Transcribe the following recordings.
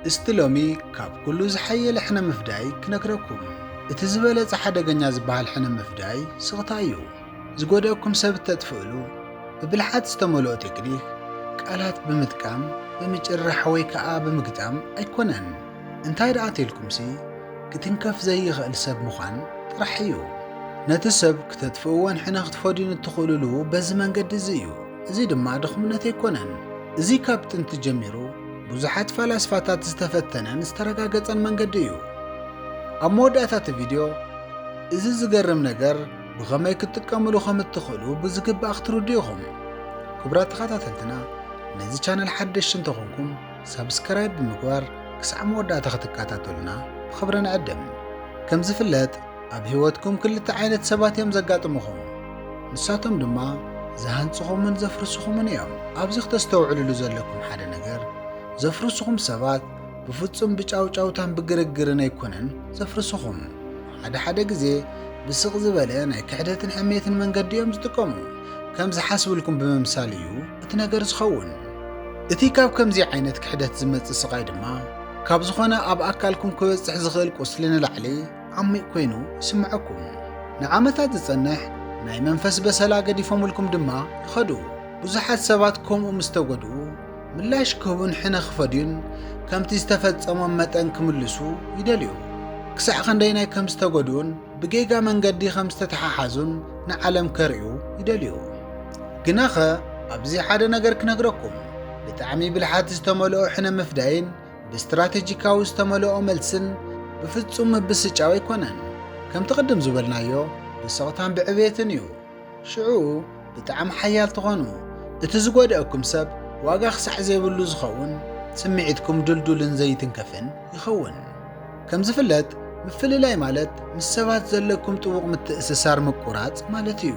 እስቲ ሎሚ ካብ ኩሉ ዝሓየለ ሕነ ምፍዳይ ክነግረኩም። እቲ ዝበለጸ ሓደገኛ ዝበሃል ሕነ ምፍዳይ ስቕታ እዩ። ዝጎደእኩም ሰብ እተጥፍእሉ ብብልሓት ዝተመልኦ ቴክኒክ፣ ቃላት ብምጥቃም፣ ብምጭርራሕ ወይ ከኣ ብምግጣም ኣይኮነን። እንታይ ደኣ ተልኩምሲ ክትንከፍ ዘይኽእል ሰብ ምዃን ጥራሕ እዩ። ነቲ ሰብ ክተጥፍእዎን ሕነ ክትፈድዩን እትኽእሉሉ በዚ መንገዲ እዚ እዩ። እዚ ድማ ድኽምነት ኣይኮነን። እዚ ካብ ጥንቲ ጀሚሩ ብዙሓት ፈላስፋታት ዝተፈተነን ዝተረጋገጸን መንገዲ እዩ። ኣብ መወዳእታ እቲ ቪድዮ እዚ ዝገርም ነገር ብኸመይ ክትጥቀምሉ ከም እትኽእሉ ብዝግባእ ክትርዱ ኢኹም። ክቡራት ተኸታተልትና ነዚ ቻነል ሓደሽቲ እንተኾንኩም ሳብስክራይብ ብምግባር ክሳዕ መወዳእታ ክትከታተሉና ብኽብሪ ንዕድም። ከም ዝፍለጥ ኣብ ህይወትኩም ክልተ ዓይነት ሰባት እዮም ዘጋጥምኹም፣ ንሳቶም ድማ ዝሃንጽኹምን ዘፍርስኹምን እዮም። ኣብዚ ክተስተውዕልሉ ዘለኩም ሓደ ነገር፣ ዘፍርስኹም ሰባት ብፍጹም ብጫውጫውታን ብግርግርን ኣይኮነን ዘፍርስኹም። ሓደ ሓደ ግዜ ብስቕ ዝበለ ናይ ክሕደትን ሕሜትን መንገዲ እዮም ዝጥቀሙ። ከም ዝሓስብልኩም ብምምሳል እዩ እቲ ነገር ዝኸውን። እቲ ካብ ከምዚ ዓይነት ክሕደት ዝመጽእ ስቓይ ድማ ካብ ዝኾነ ኣብ ኣካልኩም ክበጽሕ ዝኽእል ቁስሊ ንላዕሊ ዓሚቕ ኮይኑ ይስምዐኩም። ንዓመታት ዝጸንሕ ናይ መንፈስ በሰላ ገዲፎምልኩም ድማ ይኸዱ። ብዙሓት ሰባት ከምኡ ምስ ተጎድኡ ምላሽ ክህቡን ሕነ ክፈድዩን ከምቲ ዝተፈጸሞም መጠን ክምልሱ ይደልዩ። ክሳዕ ክንደይናይ ከም ዝተጎድኡን ብጌጋ መንገዲ ከም ዝተተሓሓዙን ንዓለም ከርእዩ ይደልዩ። ግናኸ ኣብዚ ሓደ ነገር ክነግረኩም፣ ብጣዕሚ ብልሓት ዝተመልኦ ሕነ ምፍዳይን ብስትራተጂካዊ ዝተመልኦ መልስን ብፍጹም ምብስጫው ኣይኮነን። ከምቲ ቅድም ዝበልናዮ ብስቕታን ብዕብየትን እዩ። ሽዑ ብጣዕሚ ሓያል ትኾኑ፣ እቲ ዝጎደእኩም ሰብ ዋጋ ክሳዕ ዘይብሉ ዝኸውን ስምዒትኩም ድልዱልን ዘይትንከፍን ይኸውን። ከም ዝፍለጥ ምፍልላይ ማለት ምስ ሰባት ዘለኩም ጥቡቕ ምትእስሳር ምቁራጽ ማለት እዩ።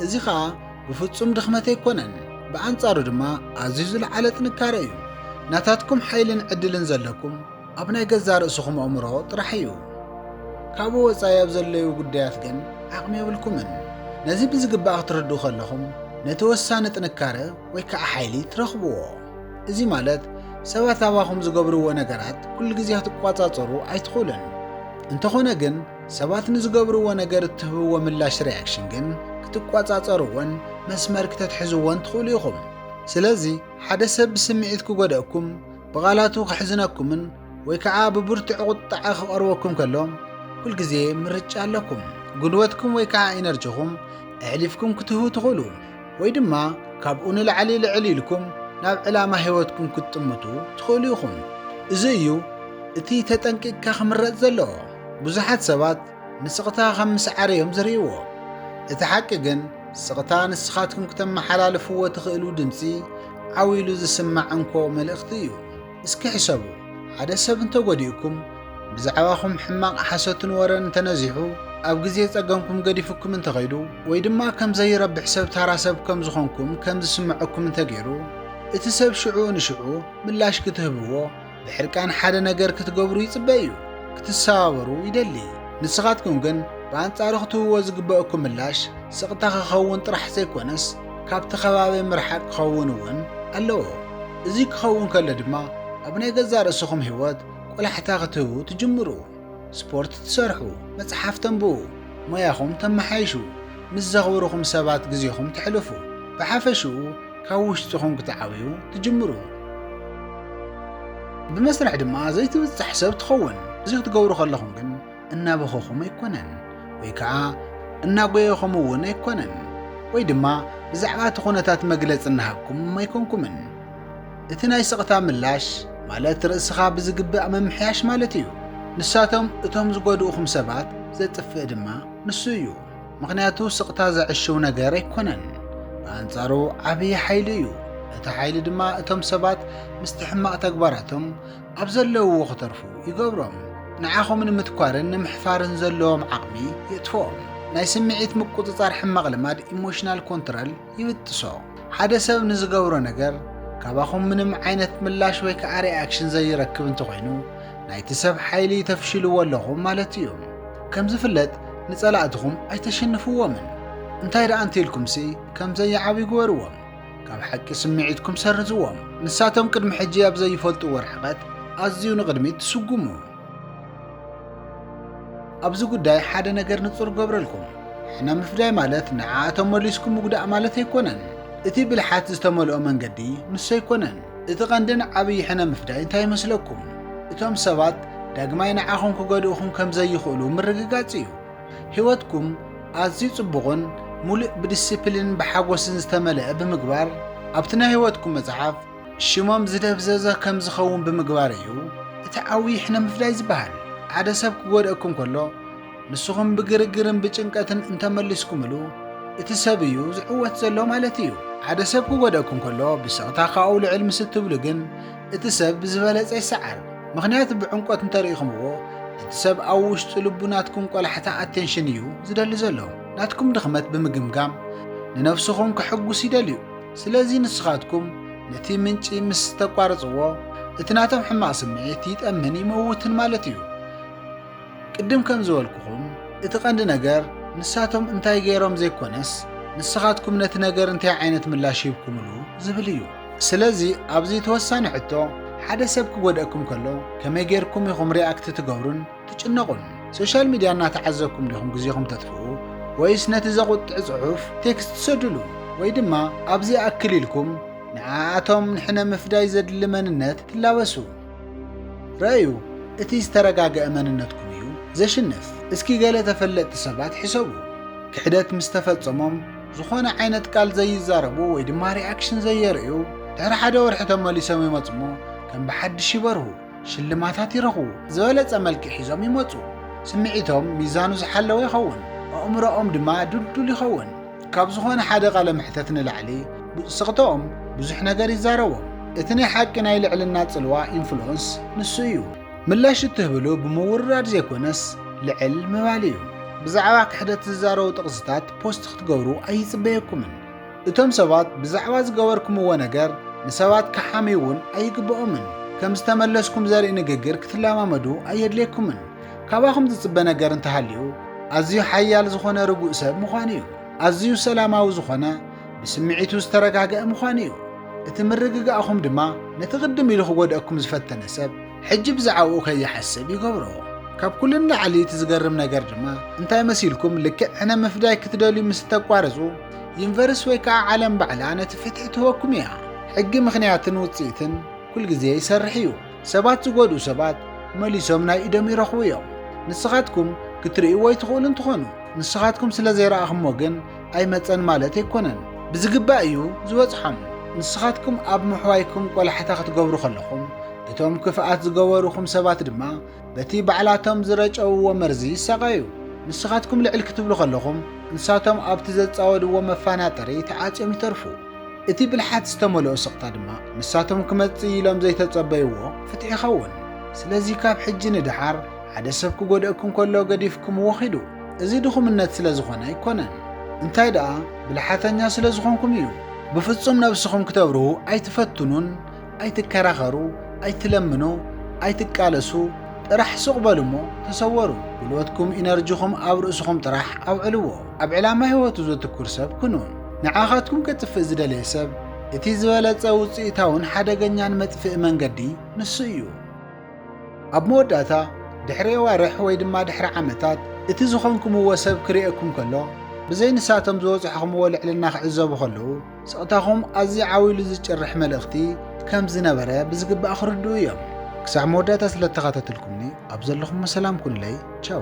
እዚ ኸኣ ብፍጹም ድኽመት ኣይኮነን፣ ብኣንጻሩ ድማ ኣዝዩ ዝለዓለ ጥንካረ እዩ። ናታትኩም ሓይልን ዕድልን ዘለኩም ኣብ ናይ ገዛእ ርእስኹም ኣእምሮ ጥራሕ እዩ። ካብኡ ወጻኢ ኣብ ዘለዉ ጉዳያት ግን ዓቕሚ የብልኩምን። ነዚ ብዝግባእ ክትርድኡ ከለኹም ነቲ ወሳኒ ጥንካረ ወይ ከዓ ሓይሊ ትረኽብዎ። እዚ ማለት ሰባት ኣባኹም ዝገብርዎ ነገራት ኩሉ ግዜ ክትቋጻጸሩ ኣይትኽእሉን። እንተኾነ ግን ሰባት ንዝገብርዎ ነገር እትህብዎ ምላሽ፣ ሪኣክሽን፣ ግን ክትቆጻጸርዎን መስመር ክተትሕዝዎን ትኽእሉ ኢኹም። ስለዚ ሓደ ሰብ ብስምዒት ክጎድኣኩም፣ ብቓላቱ ከሕዝነኩምን ወይ ከኣ ብብርቱዕ ቁጥዐ ክቐርበኩም ከሎ፣ ኩልግዜ ምርጫ ኣለኩም። ጉልበትኩም ወይ ከኣ ኢነርጂኹም ኣሕሊፍኩም ክትህቡ ትኽእሉ፣ ወይ ድማ ካብኡ ንላዕሊ ልዕል ኢልኩም ናብ ዕላማ ህይወትኩም ክትጥምቱ ትኽእሉ ኢኹም። እዚ እዩ እቲ ተጠንቂቕካ ክምረጽ ዘለዎ። ብዙሓት ሰባት ንስቕታ ኸም ምስዓር እዮም ዝርእይዎ። እቲ ሓቂ ግን ስቕታ ንስኻትኩም ክተመሓላልፍዎ ትኽእሉ ድምፂ ዓው ኢሉ ዝስማዕ እንኮ መልእኽቲ እዩ። እስኪ ሕሰቡ፣ ሓደ ሰብ እንተጎዲኡኩም፣ ብዛዕባኹም ሕማቕ ሓሶትን ወረን እንተነዚሑ፣ ኣብ ግዜ ጸገምኩም ገዲፉኩም እንተኸይዱ፣ ወይ ድማ ከም ዘይረብሕ ሰብ ታራ ሰብ ከም ዝኾንኩም ከም ዝስምዐኩም እንተገይሩ፣ እቲ ሰብ ሽዑ ንሽዑ ምላሽ ክትህብዎ ብሕርቃን ሓደ ነገር ክትገብሩ ይጽበ እዩ፣ ክትሰባበሩ ይደሊ። ንስኻትኩም ግን ብኣንጻሩ ክትህብዎ ዝግበእኩም ምላሽ ስቕታ ክኸውን ጥራሕ ዘይኮነስ ካብቲ ከባቢ ምርሓቕ ክኸውን እውን ኣለዎ። እዚ ክኸውን ከሎ ድማ ኣብ ናይ ገዛእ ርእስኹም ህይወት ቆላሕታ ክትህቡ ትጅምሩ። ስፖርት ትሰርሑ፣ መጽሓፍ ተንብቡ፣ ሞያኹም ተመሓይሹ፣ ምስ ዘኽብሩኹም ሰባት ግዜኹም ተሕልፉ፣ ብሓፈሽኡ ካብ ውሽጥኹም ክትዓብዩ ትጅምሩ። ብመስርሕ ድማ ዘይትብጻሕ ሰብ ትኸውን። እዚ ክትገብሩ ከለኹም ግን እናበኸኹም ኣይኮነን ወይ ከኣ እናጎየኹም እውን ኣይኮነን ወይ ድማ ብዛዕባ እቲ ኩነታት መግለጺ እናሃብኩም ኣይኮንኩምን። እቲ ናይ ስቕታ ምላሽ ማለት ርእስኻ ብዝግባእ ምምሕያሽ ማለት እዩ። ንሳቶም እቶም ዝጎድኡኹም ሰባት ዘጥፍእ ድማ ንሱ እዩ። ምኽንያቱ ስቕታ ዘዕሽው ነገር ኣይኮነን። ብኣንጻሩ ዓብዪ ሓይሊ እዩ። እቲ ሓይሊ ድማ እቶም ሰባት ምስቲ ሕማቕ ተግባራቶም ኣብ ዘለውዎ ክተርፉ ይገብሮም። ንዓኹም ንምትኳርን ንምሕፋርን ዘለዎም ዓቕሚ የጥፍኦም። ናይ ስምዒት ምቁጽጻር ሕማቕ ልማድ፣ ኢሞሽናል ኮንትረል፣ ይብጥሶ። ሓደ ሰብ ንዝገብሮ ነገር ካባኹም ምንም ዓይነት ምላሽ ወይ ከዓ ሪኣክሽን ዘይረክብ እንተኾይኑ ናይቲ ሰብ ሓይሊ ተፍሽልዎ ኣለኹም ማለት እዩ። ከም ዝፍለጥ ንጸላእትኹም ኣይተሽንፍዎምን። እንታይ ደኣ እንተኢልኩምሲ ከም ዘይዓብዩ ግበርዎም። ካብ ሓቂ ስምዒትኩም ሰርዝዎም። ንሳቶም ቅድሚ ሕጂ ኣብ ዘይፈልጥዎ ርሕቐት ኣዝዩ ንቕድሚት ትስጉሙ። ኣብዚ ጉዳይ ሓደ ነገር ንጹር ገብረልኩም ሕነ ምፍዳይ ማለት ንዓኣቶም መሊስኩ ምጉዳእ ማለት ኣይኮነን እቲ ብልሓት ዝተመልኦ መንገዲ ምስ ኣይኮነን እቲ ቀንድን ዓብዪ ሕነ ምፍዳይ እንታይ ይመስለኩም እቶም ሰባት ዳግማይ ንዓኹም ክገድእኹም ከም ዘይኽእሉ ምርግጋጽ እዩ ህይወትኩም ኣዝዩ ጽቡቕን ሙሉእ ብዲስፕሊንን ብሓጎስን ዝተመልአ ብምግባር ኣብቲ ናይ ህይወትኩም መጽሓፍ ሽሞም ዝደብዘዘ ከም ዝኸውን ብምግባር እዩ እቲ ዓብዪ ሕነ ምፍዳይ ዝበሃል። ሓደ ሰብ ክጎድኣኩም ከሎ ንስኹም ብግርግርን ብጭንቀትን እንተመሊስኩምሉ እቲ ሰብ እዩ ዝዕወት ዘሎ ማለት እዩ። ሓደ ሰብ ክጎድኣኩም ከሎ ብስቕታ ካብኡ ልዕል ምስ እትብሉ ግን እቲ ሰብ ብዝበለፀ ይሰዓር። ምኽንያቱ ብዕምቆት እንተርኢኹምዎ እቲ ሰብ ኣብ ውሽጢ ልቡ ናትኩም ቆላሕታ ኣቴንሽን እዩ ዝደሊ ዘሎ። ናትኩም ድኽመት ብምግምጋም ንነብስኹም ከሕጉስ ይደልዩ። ስለዚ ንስኻትኩም ነቲ ምንጪ ምስ ተቋርጽዎ እቲ ናቶም ሕማቕ ስምዒት ይጠምን ይመውትን ማለት እዩ። ቅድም ከም ዝበልኩኹም እቲ ቀንዲ ነገር ንሳቶም እንታይ ገይሮም ዘይኮነስ ንስኻትኩም ነቲ ነገር እንታይ ዓይነት ምላሽ ሂብኩምሉ ዝብል እዩ። ስለዚ ኣብዚ እቲ ወሳኒ ሕቶ ሓደ ሰብ ክጎድኣኩም ከሎ ከመይ ገይርኩም ኢኹም ሪኣክት ትገብሩን ትጭነቑን ሶሻል ሚድያ እናተዓዘብኩም ዲኹም ግዜኹም ተጥፍኡ ወይስ ነቲ ዘቑጥዕ ጽሑፍ ቴክስት ትሰድሉ ወይ ድማ ኣብዚ ይኣክል ኢልኩም ንዓኣቶም ንሕነ ምፍዳይ ዘድሊ መንነት ትላበሱ ረእዩ እቲ ዝተረጋገአ መንነትኩም እዩ ዘሽንፍ እስኪ ገለ ተፈለጥቲ ሰባት ሕሰቡ ክሕደት ምስ ተፈጸሞም ዝኾነ ዓይነት ቃል ዘይዛረቡ ወይ ድማ ሪኣክሽን ዘየርእዩ ድሕሪ ሓደ ወርሒ ተመሊሶም ይመጽሞ ከም ብሓድሽ ይበርሁ ሽልማታት ይረኽቡ፣ ዝበለጸ መልክዕ ሒዞም ይመጹ፣ ስምዒቶም ሚዛኑ ዝሓለወ ይኸውን፣ ኣእምሮኦም ድማ ድልዱል ይኸውን። ካብ ዝኾነ ሓደ ቃለ መሕተት ንላዕሊ ብጽቕጥኦም ብዙሕ ነገር ይዛረቦም። እቲ ናይ ሓቂ ናይ ልዕልና ጽልዋ፣ ኢንፍሉወንስ፣ ንሱ እዩ። ምላሽ እትህብሉ ብምውርራድ ዘይኮነስ ልዕል ምባል እዩ። ብዛዕባ ክሕደት ዝዛረቡ ጥቕስታት ፖስት ክትገብሩ ኣይጽበየኩምን። እቶም ሰባት ብዛዕባ ዝገበርኩምዎ ነገር ንሰባት ክሓምዩ እውን ኣይግብኦምን። ከም ዝተመለስኩም ዘርኢ ንግግር ክትለማመዱ ኣየድልየኩምን። ካባኹም ዝጽበ ነገር እንተሃልዩ ኣዝዩ ሓያል ዝኾነ ርጉእ ሰብ ምዃን እዩ። ኣዝዩ ሰላማዊ ዝኾነ ብስምዒቱ ዝተረጋግአ ምዃን እዩ። እቲ ምርግጋእኹም ድማ ነቲ ቅድም ኢሉ ክጎድኣኩም ዝፈተነ ሰብ ሕጂ ብዛዕባኡ ከይሓስብ ይገብሮ። ካብ ኩሉ ንላዕሊ እቲ ዝገርም ነገር ድማ እንታይ መሲልኩም ልክዕ ሕነ ምፍዳይ ክትደልዩ ምስ እተቋርጹ ዩኒቨርስ ወይ ከዓ ዓለም ባዕላ ነቲ ፍትሒ ትህበኩም እያ። ሕጊ ምኽንያትን ውፅኢትን ኩል ግዜ ይሰርሕ እዩ። ሰባት ዝጎድኡ ሰባት መሊሶም ናይ ኢዶም ይረኽቡ እዮም። ንስኻትኩም ክትርእይዎ ኣይትኽእሉ እንትኾኑ ንስኻትኩም ስለ ዘይረኣኹሞ ግን ኣይመፀን ማለት ኣይኮነን። ብዝግባእ እዩ ዝበፅሖም። ንስኻትኩም ኣብ ምሕዋይኩም ቆላሕታ ክትገብሩ ከለኹም እቶም ክፍኣት ዝገበሩኹም ሰባት ድማ በቲ ባዕላቶም ዝረጨውዎ መርዚ ይሳቐዩ። ንስኻትኩም ልዕል ክትብሉ ከለኹም፣ ንሳቶም ኣብቲ ዘጻወድዎ መፋናጠሪ ተዓጽዮም ይተርፉ። እቲ ብልሓት ዝተመልኦ ስቕታ ድማ፣ ንሳቶም ክመጽእ ኢሎም ዘይተጸበይዎ ፍትሕ ይኸውን። ስለዚ ካብ ሕጂ ንደሓር፣ ሓደ ሰብ ክጎድኣኩም ከሎ ገዲፍኩምዎ ኺዱ። እዚ ድኹምነት ስለ ዝኾነ ኣይኮነን። እንታይ ደኣ፣ ብልሓተኛ ስለ ዝኾንኩም እዩ። ብፍጹም ነብስኹም ክተብርሁ ኣይትፈትኑን። ኣይትከራኸሩ፣ ኣይትለምኑ፣ ኣይትቃለሱ ጥራሕ ሱቕ በሉ እሞ ተሰወሩ። ጉልበትኩም ኢነርጂኹም ኣብ ርእስኹም ጥራሕ ኣውዕልዎ። ኣብ ዕላማ ህይወቱ ዘትኩር ሰብ ኩኑ። ንዓኻትኩም ከጥፍእ ዝደለየ ሰብ እቲ ዝበለጸ ውጽኢታውን ሓደገኛን መጥፍኢ መንገዲ ንሱ እዩ። ኣብ መወዳእታ ድሕሪ የዋርሕ ወይ ድማ ድሕሪ ዓመታት እቲ ዝኾንኩምዎ ሰብ ክርእየኩም ከሎ ብዘይ ንሳቶም ዝበጽሕኹምዎ ልዕልና ክዕዘቡ ከለዉ ስቕታኹም ኣዝዩ ዓው ኢሉ ዝጭርሕ መልእኽቲ ከም ዝነበረ ብዝግባእ ክርድኡ እዮም። ክሳዕ መወዳእታ ስለ እተኻተትልኩምኒ ኣብ ዘለኹሞ ሰላም ኩንለይ። ቻው።